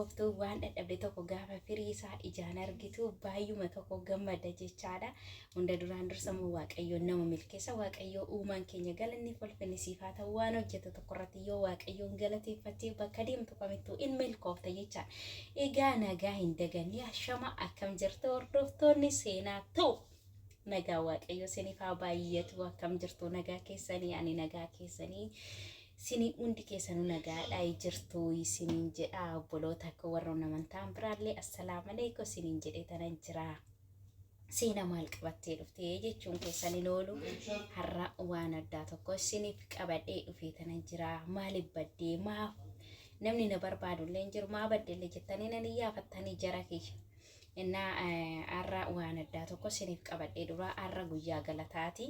Qoftuu waan dhadhabde tokko gaafa firii isaa ijaan argitu baay'uma tokko gammada jechaadha. Hunda duraan dursa immoo Waaqayyoon nama milkeessa. Waaqayyoo uumaan keenya galanni ulfinni siif haa ta'u waan hojjetu tokko irratti yoo Waaqayyoon galateeffattee bakka deemtu kamittuu in milkoofta jechaan. Egaa nagaa hin daganne ashama akkam jirtu hordoftoonni seenaa ta'u nagaa waaqayyo siniif haa baay'atu akkam jirtu nagaa keessanii ani nagaa keessanii sini hundi keessanuu nagaadhaa jirtu isiniin jedha obboloota akka warra namantaan biraallee assalaamu alaikum isiniin jedhee tanan jira. seena maal qabattee dhuftee jechuun keessan hin oolu har'a waan addaa tokko isiniif qabadhee dhufee tana jira maaliif baddee maaf namni na barbaadu illee hin jiru maa badde illee jettanii nan iyyaafattanii jara kiyya innaa har'a waan addaa tokko isiniif qabadhee dura har'a guyyaa galataati.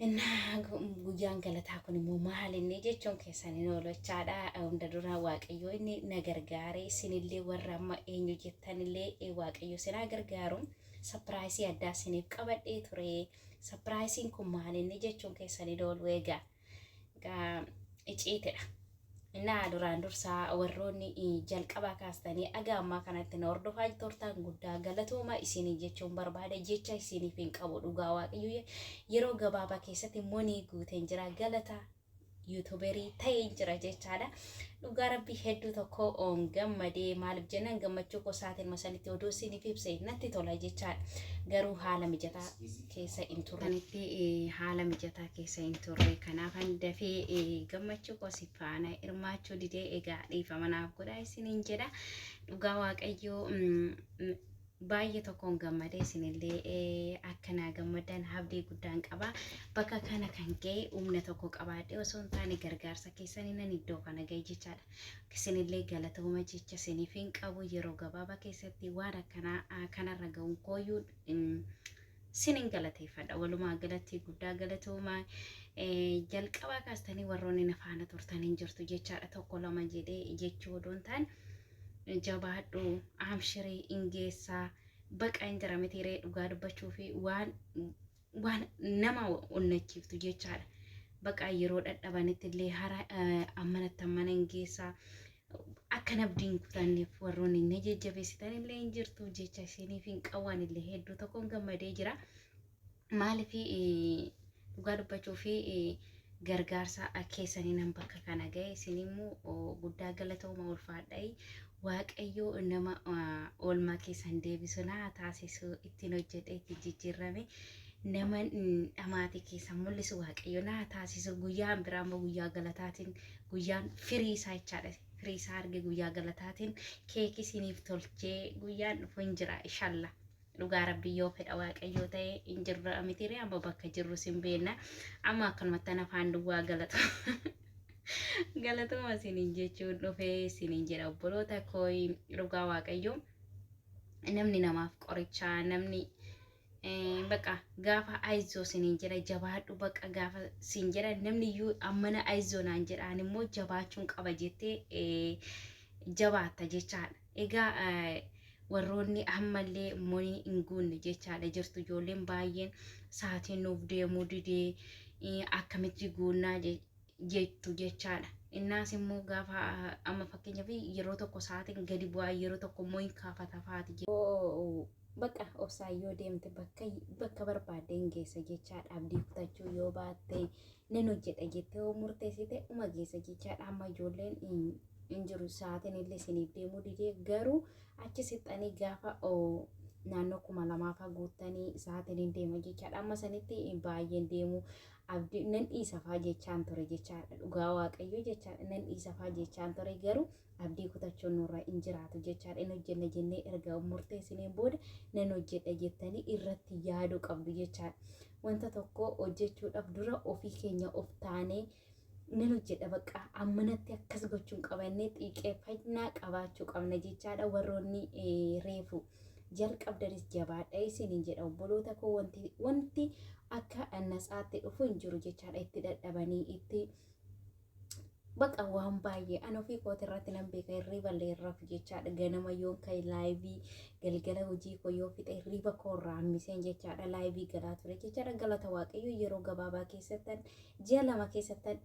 Innaa guyyaan galataa kun immoo maal inni jechuun keessan hin oolu jechaadha. Hunda dura Waaqayyo inni na gargaare isinillee warra amma eenyu jettanillee eh, Waaqayyo isin haa gargaaru. Sapiraayisii addaa isiniif qabadhee ture. Sapiraayisiin kun maal inni jechuun keessan hin oolu egaa. Egaa iciitidha. Innaa duraan dursaa warroonni eh, jalqabaa kaastanii aga ammaa kanatti na hordofaa turtan guddaa galatooma isinii jechuun barbaada jecha isiniif hin qabu dhugaa waaqayyo ye- yeroo gabaabaa keessatti monii guuteen jira galata yuutuberii ta'een jira jechaadha. Dhugaa rabbii hedduu tokko oon gammadee maaliif jennaan gammachuu koo saatiin masanitti oduu isiniif ibse natti tola jechaan garuu haala mijataa keessa hin turre. Kanitti haala mijataa keessa hin turre kanaafan dafee gammachuu koo si faana hirmaachuu didee egaa dhiifama naaf godhaa isiniin jedha dhugaa waaqayyoo baay'ee tokkoon gammade isinillee akka naa gammaddan habdii guddaan qaba bakka kana kan ga'e humna tokko qabaadhe osoo hin taane gargaarsa keessanii nan iddoo kana ga'e jechaadha isinillee galatooma jecha isiniif hin qabu yeroo gabaabaa keessatti waan akkanaa kanarra ga'uun kooyyuu sinin galateeffadha walumaa galatti guddaa galatooma jalqabaa kaastanii warroonni na faana turtan hin jirtu jechaadha tokko lama jedhee jechuu odoo hin taane jabaadhu amshiri in geessaa baqa in jira mitiiree dhugaa dubbachuu fi waan waan nama onnachiiftu jechaadha baqa yeroo dhadhabanitti illee hara ammanatti ammana in geessaa akkan abdiin kutanneef warroonni na jajjabeessitan illee in jirtu jecha isiniif hin qawwaan illee hedduu tokkoon gammadee jira. maaliif dhugaa dubbachuu fi gargaarsa keessanii nan bakka kana ga'e isin immoo guddaa galatooma ulfaadha'i waaqayyoo nama oolmaa keessan deebisu naa taasisu ittiin hojjedhe ittiin jijjiirrame nama dhamaatii keessan mul'isu waaqayyo naa taasisu guyyaan biraa immoo guyyaa galataatiin guyyaan firii isaa jechaadha firii isaa arge guyyaa galataatiin keekii isiniif tolchee guyyaan dhufu hin jira ishalla dhugaa rabbii yoo fedha waaqayyoo ta'e hin jirra mitiiree amma bakka jirru sin beenna amma akkanumatti ana afaan duwwaa galatu galatuma isiniin jechuun dhufee isiniin jedha obboloota koo dhugaa waaqayyoo namni namaaf qorichaa namni eh, baqa gaafa ayizoo siniin jedha jabaadhu baqa gaafa siin jedha namni iyyuu ammana ayizoo naan jedhaan immoo jabaachuun qaba jettee eh, jabaatta jechaadha. Egaa warroonni ammallee monii hin guunne jechaadha jirtu ijoolleen baay'een saatiin nuuf deemuu didee akkamitti guunnaa jettu jechaadha. Innaas immoo gaafa amma fakkeenyaaf yeroo tokko saatiin gadi bu'aa yeroo tokko immoo hin kaafata faati. Bakka obsaa yoo deemte bakka bakka barbaadde hin geessa jechaadha abdii kutachuu yoo baatte nan hojjedha jettee yoo murteessite uma geessa jechaadha amma ijoolleen hin jiru sa'aatiin illee isiniif deemuu didee garuu achi sixxanii gaafa naannoo kuma lamaafaa guuttanii sa'aatiin hin deema jechaadha amma sanitti baay'een deemu abdii nan dhiisafaa jechaan ture jechaadha dhugaa waaqayyoo jechaadha nan dhiisafaa jechaan ture garuu abdii kutachuun nurra hin jiraatu jechaadha hin hojjenna jennee erga murteessineen booda nan hojjedha jettanii irratti yaaduu qabdu jechaadha wanta tokko hojjechuudhaaf dura ofii keenya of taanee nan hojjedha bakka ammanatti akkas gochuun qaba innee xiiqeeffannaa qabaachuu qabna jechaadha warroonni reefu jalqabdanis jabaadha isiniin jedha obboloota koo wanti wanti akka nasaatti dhufu hin jiru jechaadha itti dadhabanii itti baqa waan baay'ee an ofii kooti irratti nan beeka hirriiba illee hin rafu jechaadha ganama yoon ka'e laayivii galgala hojii koo yoo fixe hirriiba koo irraa hammiseen jechaadha laayivii galaa ture jechaadha galata waaqayyo yeroo gabaabaa keessattan Ji'a lama keessattan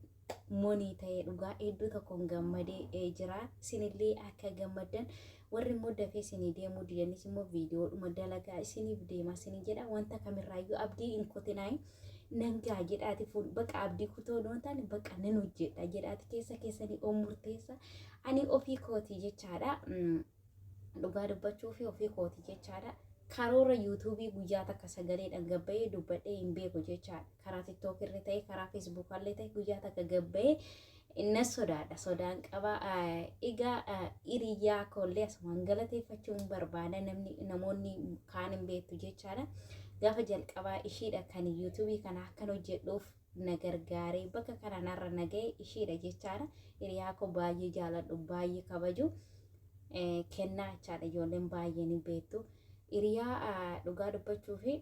money ta'e dhugaa hedduu tokkoon gammadee jira. Isinillee akka gammaddan warri immoo dafee isinii deemuu didanis immoo viidiyoodhuma dalagaa isiniif deema isinii jedha. Wanta kamirraayyuu abdii hin kutinaayi. Nan gaa jedhaati fuul baqa abdii kutoo nuun taane baqa nan hojjedha jedhaati keessa keessanii oo murteessa. Ani ofii kooti jechaadha. dhugaa dubbachuu fi ofii kooti jechaadha. Karoora yuutuubii guyyaa takka sagaleedhaan gabbayee dubbadhee hin beeku jechaadha. Karaa tiktook irra ta'e karaa feesbuuk illee ta'e guyyaa takka gabbayee na sodaadha. Sodaan qaba. Egaa hiriyaa koollee asumaan galateeffachuun barbaada namni namoonni kaan hin beektu jechaadha. Gaafa jalqabaa ishiidha kan yuutuubii kana akkan hojjedhuuf na gargaaree bakka kana narra na ga'e ishiidha jechaadha. Hiriyaa koo baay'ee jaaladhu baay'ee kabaju kennaa jechaadha ijoolleen baay'ee ni beektu. Hiriyaa dhugaa dubbachuu fi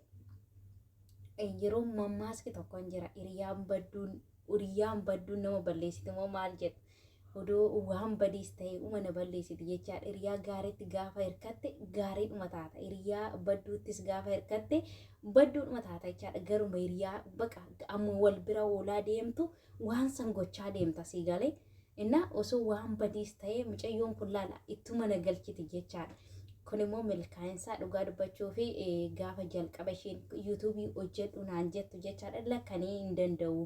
yeroo mammaaski tokko hin jira hiriyaan badduun hiriyaan badduun nama balleessiti moo maal jedhu. Odoo waan badiis ta'e uma na balleessiti jechaadha. Hiriyaa gaariitti gaafa hirkatte gaariidhuma taata. Hiriyaa badduuttis gaafa hirkatte badduudhuma taata jechaadha. Garuma hiriyaa baqa amma wal bira oolaa deemtu waan san gochaa deemta sii galee. Innaa osoo waan badiis ta'e mucayyoon kun laala ittuma na galchiti jechaadha. Kun immoo milkaa'insaa dhugaa dubbachuu fi gaafa jalqaba isheen yuutuubii hojjedhu naan jettu jechaadha lakkanii hin danda'u.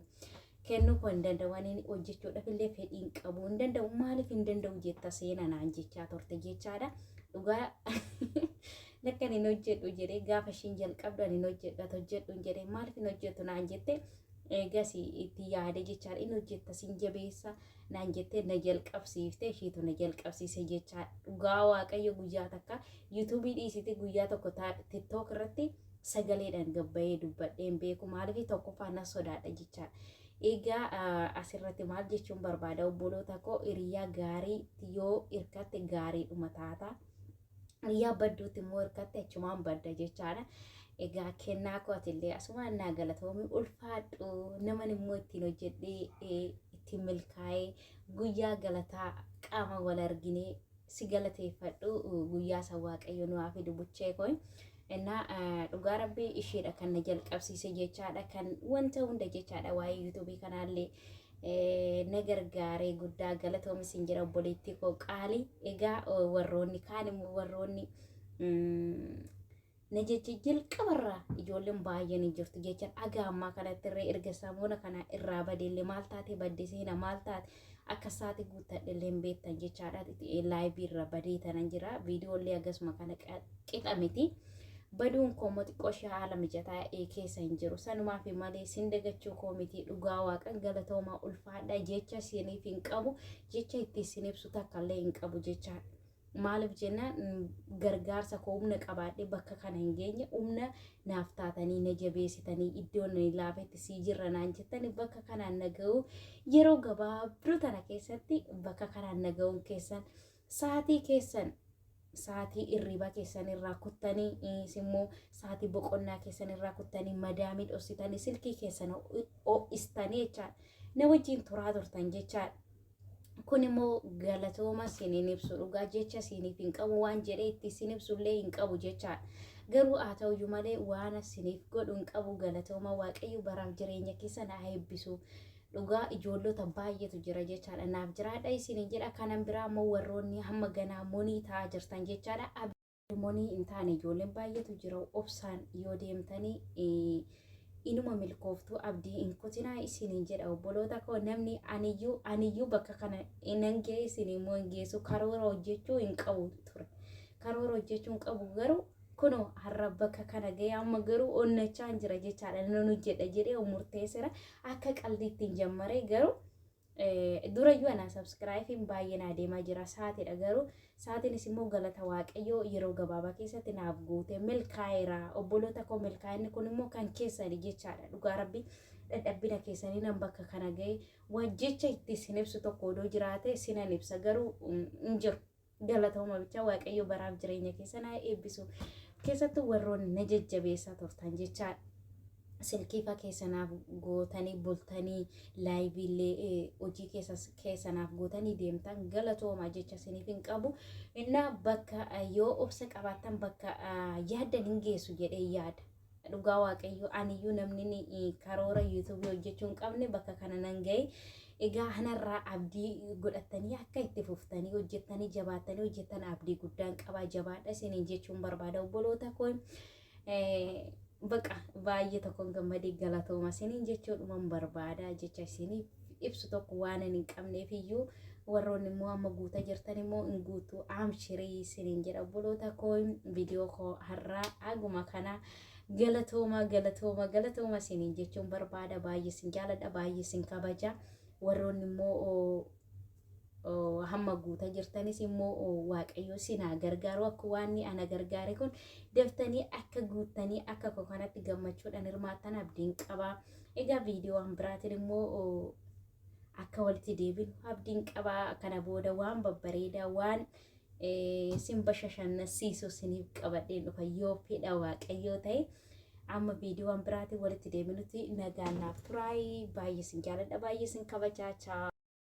kennuu koo hin danda'u ani hojjechuudhaaf illee fedhii hin qabu hin danda'u maaliif hin danda'u jetta seena naan jechaa turte jechaadha dhugaa lakka ani hin hojjedhu jedhee gaafa ishiin jalqabdu ani hin hojjedhu ati hojjedhu hin jedhee maaliif hin hojjettu naan jette eegas itti yaade jechaadha hin hojjetta sin jabeessa naan jettee na jalqabsiifte ishiitu na jalqabsiise jechaa dhugaa waaqayyo guyyaa takka yuutuubii dhiisite guyyaa tokko tiktook irratti sagaleedhaan gabbayee dubbadhee hin beeku maaliif tokkoffaa nan sodaadha jechaa egaa asirratti maal jechuun barbaada obboloota koo hiriyaa gaarii yoo hirkatte gaariidhuma taata hiriyaa badduutti immoo hirkatte achumaan badda jechaadha egaa kennaa kootillee asumaan naa galatoomi ulfaadhu naman immoo ittiin hojjedhee ittiin milkaa'ee guyyaa galataa qaama wal arginee si galateeffadhu guyyaa san waaqayyo nu haa fidu buchee koo innaa eh, dhugaa rabbii ishiidha kan na jalqabsiise jechaadha kan wanta hunda jechaadha waa'ee yuutuubii kanaallee eh, na gargaaree guddaa galatoomi sin jira obboleettii koo qaalii egaa eh, warroonni kaan immoo warroonni mm, na jecha jalqabarraa ijoolleen baay'een hin jirtu jechaan aga ammaa kanatti irree erga samuuna kana irraa badeellee maal taate badde seena maal taate akka isaati guuttadhellee hin beektan jechaadha laayivii irra badee tanan jira viidiyoollee akkasuma kana qixa miti. Baduun koo immoo xiqqoo ishee haala mijataa keessa hin jiru sanumaaf malee sin dagachuu koo miti dhugaa waaqan galatoomaa ulfaadha jecha isiniif hin qabu jecha itti isin ibsu takka illee hin qabu jechaadha. Maaliif jennaan gargaarsa koo humna qabaadhee bakka kana hin geenye humna naaf taatanii na jabeessitanii iddoon ani laafetti sii jirra naan jettanii bakka kanaan na ga'uu yeroo gabaabduu tana keessatti bakka kanaan na ga'uun keessan sa'aatii keessan sa'aatii irriibaa keessan irraa kuttanii immoo sa'aatii boqonnaa keessan irraa kuttanii madaamii dhossitanii silkii keessan ho'istanii jechaadha na wajjin turaa turtan jechaadha. kun immoo galatooma siniin ibsu dhugaa jecha siniif hin qabu waan jedhee itti sin ibsullee hin qabu jechaadha. Garuu haa ta'uyyuu malee waan siniif godhu hin qabu galatooma waaqayyo baraaf jireenya keessa na eebbisu. Dhugaa ijoollota baay'eetu jira jechaadha. Naaf jiraadha isiniin jedha kanan biraa immoo warroonni hamma ganaa monii ta'aa jirtan jechaadha. Deemonii hin taane ijoolleen baay'eetu jira obsaan yoo deemtanii eh, inuma milkooftuu abdii hin kutinaa isiniin jedha obboloota koo namni aniyyuu aniyyuu bakka kana nan ga'e isin immoo hin geessu karoora hojjechuu hin qabu ture karoora hojjechuu hin qabu garuu kunoo har'a bakka kana ga'e amma garuu onnachaan jira jechaadha nan hojjedha jedhee murteessera akka qaldiitti hin jammaree garuu Durayyuu anaa sabskiraayifiin baay'ee naa deemaa jira saatidha garuu saatiinis immoo galata waaqayyoo yeroo gabaabaa keessatti naaf guute milkaa'eera obboloota koo milkaa'inni kun immoo kan keessani jechaadha dhugaa rabbi dadhabbina keessanii nan bakka kana ga'e waan jecha itti isin ibsu tokko odoo jiraate sinan ibsa garuu hin jiru. Galatooma bichaa waaqayyo baraaf jireenya keessan haa eebbisu. Keessattuu warroonni na jajjabeessaa turtan jecha silkiifa keessanaaf gootanii bultanii laayiviillee eh, hojii keessas- keessanaaf gootanii deemtan galatooma jecha isiniif hin qabu. Innaa bakka eh, yoo obsa qabaattan bakka ah, yaaddan hin geessu jedhee yaada. dhugaa waaqayyoo aniyyuu namni karoora yuutuubii hojjechuu hin qabne bakka kana nan ga'e egaa kanarraa abdii godhattanii akka itti fuftanii hojjettanii jabaattanii hojjettan abdii guddaan qabaa jabaadha isiniin jechuun barbaada obboloota koo baqa baay'ee tokkoon gammadee galatooma isiniin jechuudhuman barbaada jecha isiniif ibsu tokko waanan hin qabneef iyyuu warroonni immoo amma guuta jirtan immoo hin guutu amshirii isiniin jedha obboloota koo viidiyoo koo har'aa haguma kana galatooma galatooma galatooma isiniin jechuun barbaada baay'ee isin jaaladha baay'ee isin kabaja warroonni immoo hamma guuta jirtanis immoo waaqayyo sin haa gargaaru akka waan ana gargaare kun daftanii akka guuttanii akka koo kanatti gammachuudhaan hirmaattan abdiin qaba. Egaa viidiyoowwan biraatiin immoo akka walitti deebinu abdiin qaba. Kana booda waan babbareedaa waan sin bashashannasiisu siniif qabadheen dhufa yoo fedha waaqayyoo ta'e. Amma viidiyoowwan biraatiin walitti deebinutti nagaan naaf turaayii baay'ee sin jaaladha baay'ee sin kabajaa chaa.